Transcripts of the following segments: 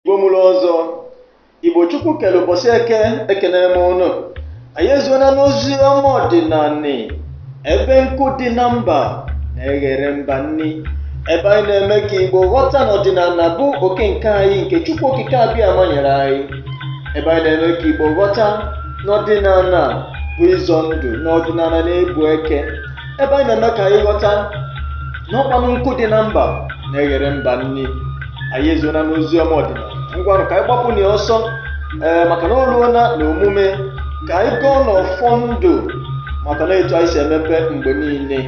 Igbo mụrụ ọzọ, Igbo Chukwu kere ụbọchị eke ekenee m ụnụ. Anyị ezuona n'ozi ọma ọdịnanị ebe nkụ dị na mba na-eghere mba nri. Ebe anyị na-eme ka Igbo ghọta na ọdịnala bụ oke nke anyị nke Chukwu okike Abịama nyere anyị. Ebe anyị na-eme ka Igbo ghọta na ọdịnala bụ ịzọ ndụ na ọdịnala na-ebu eke. Ebe anyị na-eme ka anyị ghọta na ọ kwanụ nkụ dị na mba na-eghere mba nri. anyị ezuola n'ozi ọma ọdịnala ngwanụ ka anyị gbapụ na ya ọsọ ee maka na o ruola na omume ka anyị gọọnụ ọfọ ndụ maka na etu anyị si emebe mgbe niile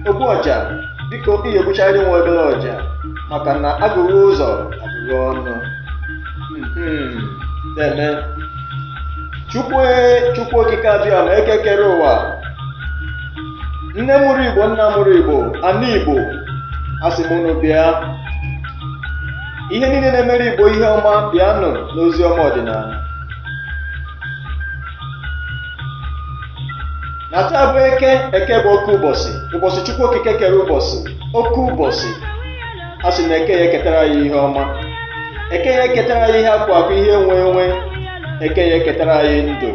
ogbu ọja biko ihe egbuchara nwe obere ọja maka na agụghị ụzọ agụghị ọnụ Mhm. deeme chukwu chukwu okike abịama eke kere ụwa nne mụrụ igbo nna mụrụ igbo ana igbo asị m unu bịa ihe niile na-emere igbo ihe ọma bịanụ n'ozi ọma ọdịnanị na taa bụ eke eke bụ oke ụbọchị ụbọchị chukwu okike kere ụbọchị oke ụbọchị a sị na eke ya eketara ya ihe ọma eke ya eketara ya ihe akụ akụ ihe enwe enwe eke ya eketara ya ndụ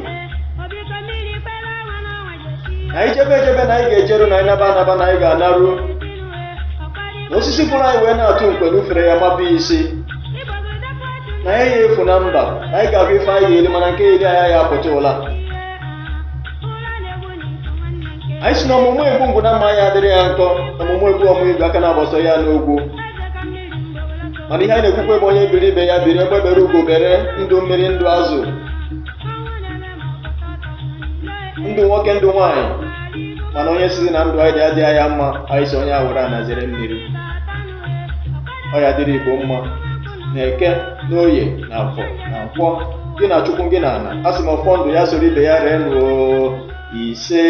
na anyị jebe ejebe na anyị ga-ejeru na anyị naba anaba na anyị ga-anaru na osisi fụrụ anyị wee na-atụ nkwe n'ufere ya mabie isi na anyị ya efu na mba na anyị ga-afụ ife anyị ga-eli mana nke ya-eli anyị ya apụta ụla anyị sị na ọmụmụ egbu ngwu na mma ya adịrị ya nkọ ọmụmụ egbu ọmụ igu aka na-agbasa ya n'ogwu mana ihe anyị na-ekwukwa bụ onye biri ibe ya biri egbe bere ugo bere ndụ mmiri ndụ azụ ndụ nwoke ndụ nwaanyị mana onye sịrị na ndụ anyị dị adịghị ya mma anyị sị onye a were ana zere mmiri ọ ya dịrị igbo mma na eke na oye na afọ na nkwọ gị na chukwu gị na ana a sị m ọfọ ndụ ya soro ibe ya ree nụ o isee